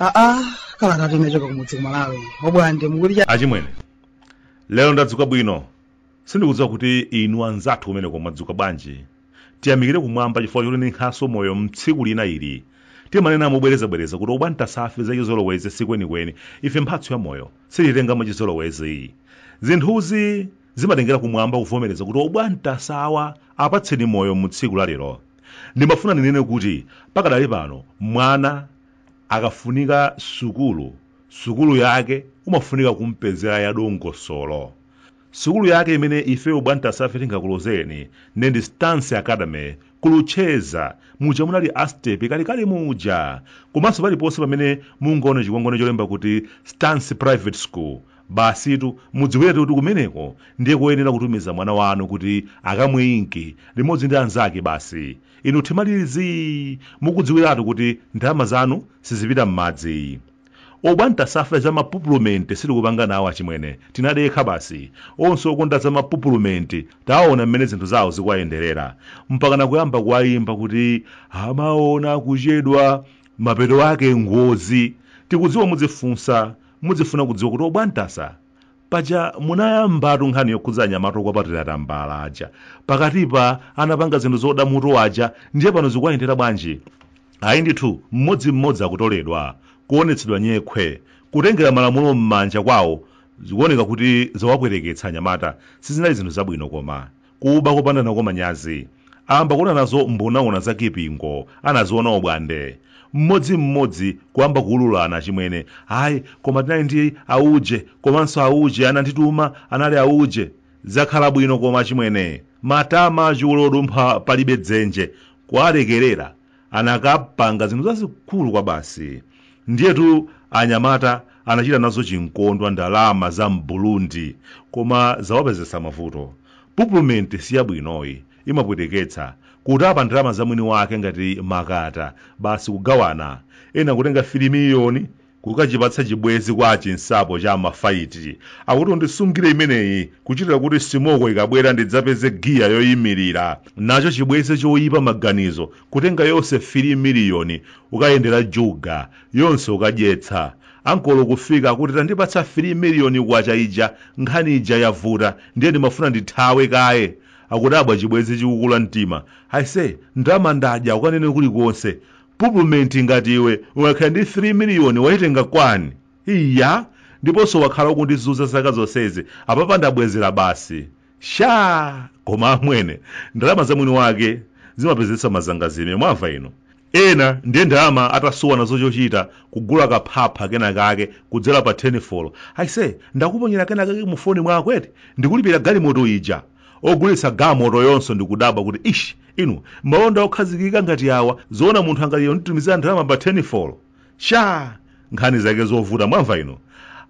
aa kalata timachoka kumudzi ku Malawi obwande mukuti achimwene lero ndadzuka bwino Sindikudziwa kuti inu anzathu kumeneko mwadzuka bwanji. Tiyamikire Kumwamba chifukwa chotininkhanso moyo m'tsiku lina ili. Timanena mobwerezabwereza kuti obwantasafe za chizolowezi si kwenikweni ife mphatso ya moyo, sititenga mwachizolowezi. Zinthuzi zimatengera Kumwamba kuvomereza kuti obwantasa awa apatseni moyo mu tsiku la lero. Ndimafuna ndinene kuti pakadali pano mwana akafunika sukulu, sukulu yake umafunika kumpezera yadongosolo. Sukulu yake imene ife obwantasafe tingakulozereni nde ndi Stance Academy ku Luchenza muja munali a Stepe kalekale muja komanso paliponse pamene mungaone chikwangwani cholemba kuti Stance Private School basitu mudziwiretu kuti kumeneko ndiye koyenera kutumiza mwana wanu kuti akamwe inki limodzi ndi anzake basi inu thima lili zii mukudziwiratu kuti ndalama zanu sizipita m'madzi. Obwantasafe za mapupulumenti sitikupanga nawo achimwene tinadekha basi. Onse okonda za mapupulumenti taona mmene zinthu zawo zikuwayenderera. Mpakana kuyamba kuwayimba kuti amaona kuchedwa mapeto ake ngozi. Tikudziwa mudzifunsa mudzifuna kudziwa kuti obwantasa paja munayambatu nkhani yokhudza anyamata okwapatira tambala aja pakatipa anapanga zinthu zoda mutu aja ndiye pano zikuwayendera bwanji ayi ndithu mmodzi mmodzi akutoledwa kuonetsedwa nyekhwe kutengera malamulo m'manja kwawo zikuoneka kuti zawapweteketsa anyamata sizinali zinthu zabwino koma kuba kopanda nako manyazi aamba kuona nazo mbonaona za kipingo anaziona obwande mmodzi mmodzi kuyamba kuululana achimwene ayi koma tinali ndi auje komanso auje anandituma anali auje zakhala bwino koma achimwene matama a chule odumpha palibe dzenje kuwalekerera anakapanga zinthu zazikulu kwabasi ndiyetu anyamata anachita nazo chinkondwa ndalama za m'burundi koma zawapezetsa mavuto pupulumenti siyabwino ayi imapweteketsa kutapa ndalama za mwini wake ngati makata basi kugawana ena kutenga 3 miliyoni kukachipatsa chibwezi kwa Chinsapo cha mafaiti akuti undisungire imeneyi kuchitira kuti simoko ikabwera ndidzapeze giya yoyimirira nacho chibwezi choyipa maganizo kutenga yonse 3 miliyoni kukayendera juga yonse kukadyetsa ankolo kufika akuti tandipatsa 3 miliyoni kwacha ija nkhani ija yavuta ndiye ndimafuna ndithawe kaye akudabwa chibwezi chikukula mtima aise ndalama ndadya ukanene kulikonse pupumenti ngati iwe ungakhale ndi 3 miliyoni waitenga kwani iya ndiponso wakhala ukundizuza zaka zonsezi apapa ndabwezera basi sha koma amwene ndalama za mwini wake zimapezetsa mazangazime mwamva inu ena ndiye ndalama atasowa nazo chochita kugula kaphapha kenakake kudzera pa tenifolo aise ndakuponyera kenakake mu foni mwako eti ndikulipira galimoto ija ogulitsa galimotoyonso ndikudabwa kuti ish inu malonda okhazikika ngati awa zoona munthu angathe onditumizira ndalama pa tenifolo sha nkhani zake zovuta mwamva inu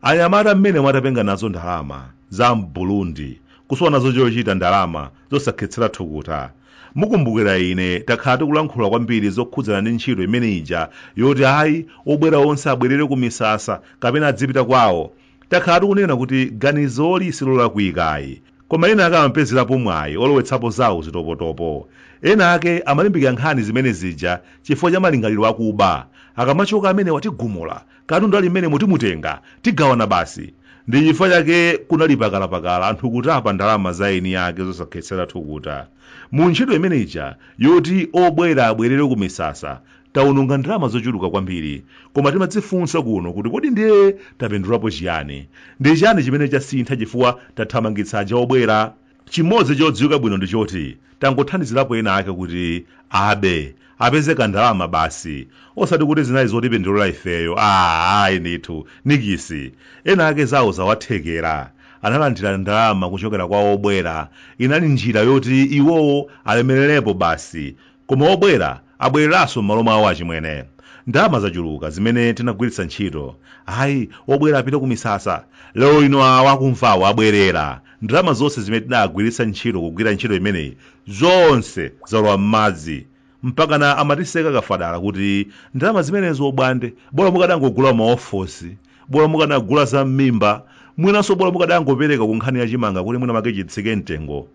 anyamata mmene mwatapenga nazo ndalama za mbulundi kusowa nazo chochita ndalama zosakhetsera thukuta mukumbukira ine takhala tikulankhula kwambiri zokhudzana ndi ntchito imene ija yoti ayi obwera onse abwerere ku misasa kapena adzipita kwawo Takhala tikunena kuti ganizoli silolakwika ayi, koma ena ake amapezerapo mwayi olowetsapo zawo zitopotopo. Ena ake amalimbikira nkhani zimene zija chifukwa cha malingaliro akuba, akamachoka amenewa tigumula, katundu ali mmenemo timutenga, tigawana basi. Ndi chifukwa chake kunali pakalapakala anthu kutapa ndalama za eni ake zosakhetsera thukuta mu ntchito imene ija yoti obwera abwerere ku misasa, tawononga ndalama zochuluka kwambiri koma timadzifunsa kuno kuti kodi ndiye tapindulapo chiyani ndi chiyani chimene chasintha chifukwa tathamangitsa aja obwera chimodzi chodziwika bwino ndi choti tangothandizirapo ena ake kuti abe apeze kandalama basi osati kuti zinali zotipindulira ifeyo aa ayi ndithu nikisi ena ake zawo zawathekera analandira ndalama kuchokera kwa obwera inali njira yoti iwowo alemererepo basi Koma obwera abwereranso m'malo mwawo achimwene. Ndalama zochuluka zimene tinagwiritsa ntchito. Ayi, obwera apite kumisasa. Lero lino awakumva awo abwerera. Ndalama zonse zimene tinagwiritsa ntchito kugwira ntchito imeneyi, zonse zalowa m'madzi. Mpakana amatiseka kafadala kuti ndalama zimenezo obwande, bola mukadangogula mayifosi, bola mukanagula za m'mimba, mwinanso bola mukadangopereka kunkhani ya chimanga kuti mwinamwake chitsike mtengo,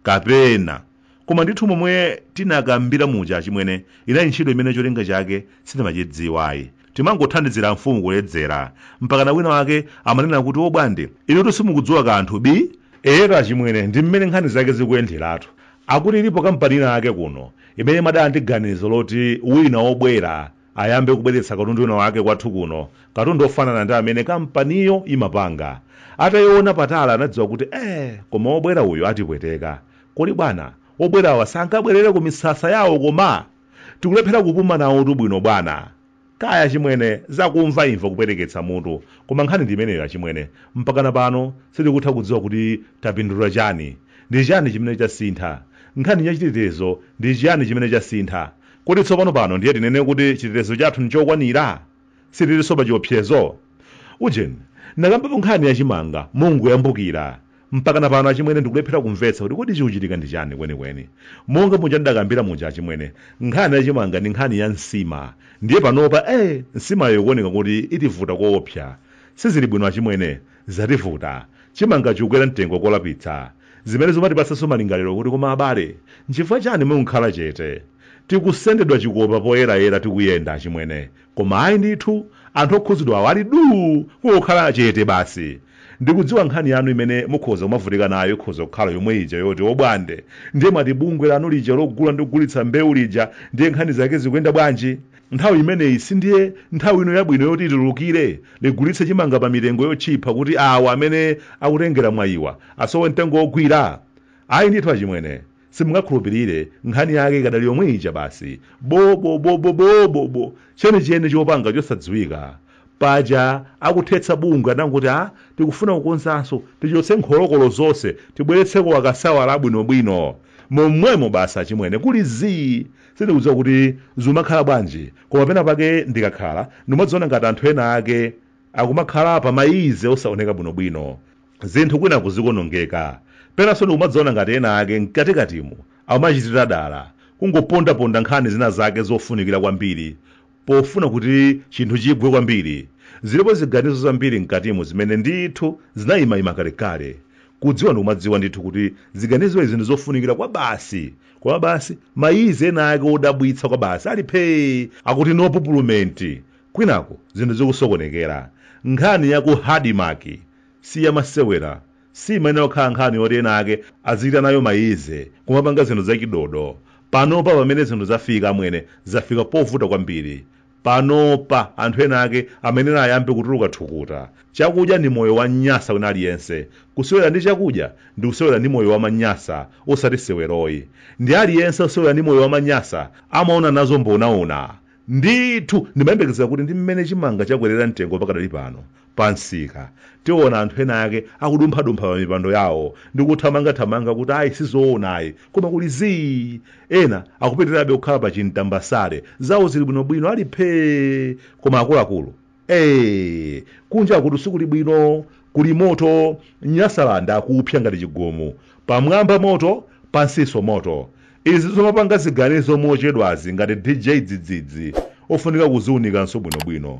kapena. koma ndithu momwe tinakambira muja achimwene inali ntchito imene cholinga chake sitimachidziwayi timangothandizira mfumu kuledzera mpakana wina wake amanena kuti obwande inutu simukudziwa kanthu bi eyetu achimwene ndi mmene nkhani zake zikuyenderatu akuti ilipo kampani ina yake kuno imene imadana ndi ganizo loti wina obwera ayambe kubweretsa katundu wina wake kwathu kuno, katundu wofanana ndi amene kampaniyo imapanga. Ataiona patali anadziwa kuti, Eh, koma wobwera uyu atipweteka. Kodi bwana, obwerawa sangabwerere ku misasa yawo koma? Tikulephera kupuma nawotu bwino bwana. Kaya achimwene, zakumva imva kupweteketsa mutu. Koma nkhani ndi imeneyo achimwene. Mpakana pano sitikutha kudziwa kuti tapindula chani. Ndi chani chimene chasintha? Nkhani ya chitetezo ndi chiyani chimene chasintha? Kodi tsopano pano ndiye tinene kuti chitetezo chathu n'chokwanira? Sitilinso pachiopsezo? Ujeni, ndinakambapo nkhani ya chimanga mongoyambukira, mpakana pano achimwene ndikulephera kumvetsa kuti kodi chikuchitika ndi chani kwenikweni. Monga muja ndidakambira muja achimwene, nkhani ya chimanga ndi nkhani ya nsima. Ndiye panopa, ee, nsimayo ikuoneka kuti itivuta koopsa. Sizili bwino achimwene. Zativuta, chimanga chikukwera mtengo kolapitsa, zimene zikumatipatsanso malingaliro kuti koma abale, nchifukwa chani mukukhala chete? Tikusendedwa chikopa poyerayera tikuyenda achimwene, koma ayi ndithu, anthu okhudzidwawo ali duu kungokhala chete basi. Ndikudziwa nkhani yanu imene mukhoza kumavutika nayo ikhoza kukhala yomwe ija yoti obwande, ndiye mwati bungwe lanu lija logula ndi kugulitsa mbewu lija ndiye nkhani zake zikuyenda bwanji? Nthawi imeneyi sindiye nthawi ino yabwino yoti litulukire ligulitse chimanga pa mitengo yotchipha kuti awa amene akutengera mwayiwa asowe mtengo wogwira? Ayi ndithu achimwene, simungakhulupirire, nkhani yake ikadali yomwe ija basi, boboboboboobobo, chenicheni chopanga chosadziwika. Paja akuthetsa bungwe adangoti ah, tikufuna kukonzanso, tichotse nkholokolo zonse tibweretseko akaswiri abwinobwino. Momwemo basi achimwene, kuli zii! Sindikudziwa kuti zimakhala bwanji, koma pena pake ndikakhala, ndikumadzaona ngati anthu ena ake akumakhala pa mayize osaoneka bwino bwino. Zinthu kwinaku zikuonongeka. Penanso ndikumadzaona ngati ena ake mkatikatimo amachitira dala, kungoponda ponda nkhani zina zake zofunikira kwambiri pofuna kuti chinthu chigwe kwambiri. Zilipo ziganizo zambiri mkatimo zimene ndithu zinaima ima kalekale. Kudziwa ndikumadziwa ndithu kuti ziganizo izi ndizofunikira kwabasi. koma basi mayize ena ake odabwitsa kwa basi ali phee akuti no pupulumenti kwinaku zinthu zikusokonekera nkhani ya ku adimaki si yamasewera siimayenera kukhala nkhani yoti ena ake azichita nayo mayize kumapanga zinthu zachidodo panopa pamene zinthu zafika amwene zafika povuta kwambiri Panopa anthu ena ake amayenera ayambe kutuluka thukuta. Chakudya ndi moyo wa mnyasa wina aliyense. Kusewera ndi chakudya ndi kusewera ndi moyo wa aManyasa osati seweroyi. Ndi aliyense wosewera ndi moyo wa aManyasa amaona nazo mbonaona. Ndithu ndimayembekeza kuti ndi mmene chimanga chakwerera mtengo pakadali pano, pa msika tiona anthu ena ake akudumphadumpha pa mipando yawo ndi kuthamangathamanga kuti ayi sizoona ayi koma kuli zii ena akupitirabe kukhala pa chintambasale zawo zili bwinobwino ali phee koma akuluakulu ee kunjakutu sikuli bwino kuli moto nyasalanda akupsa ngati chigumu pamwamba moto pansinso moto izi zomapanga ziganizo mochedwazi ngati dj dzidzidzi ofunika kuziunikanso bwinobwino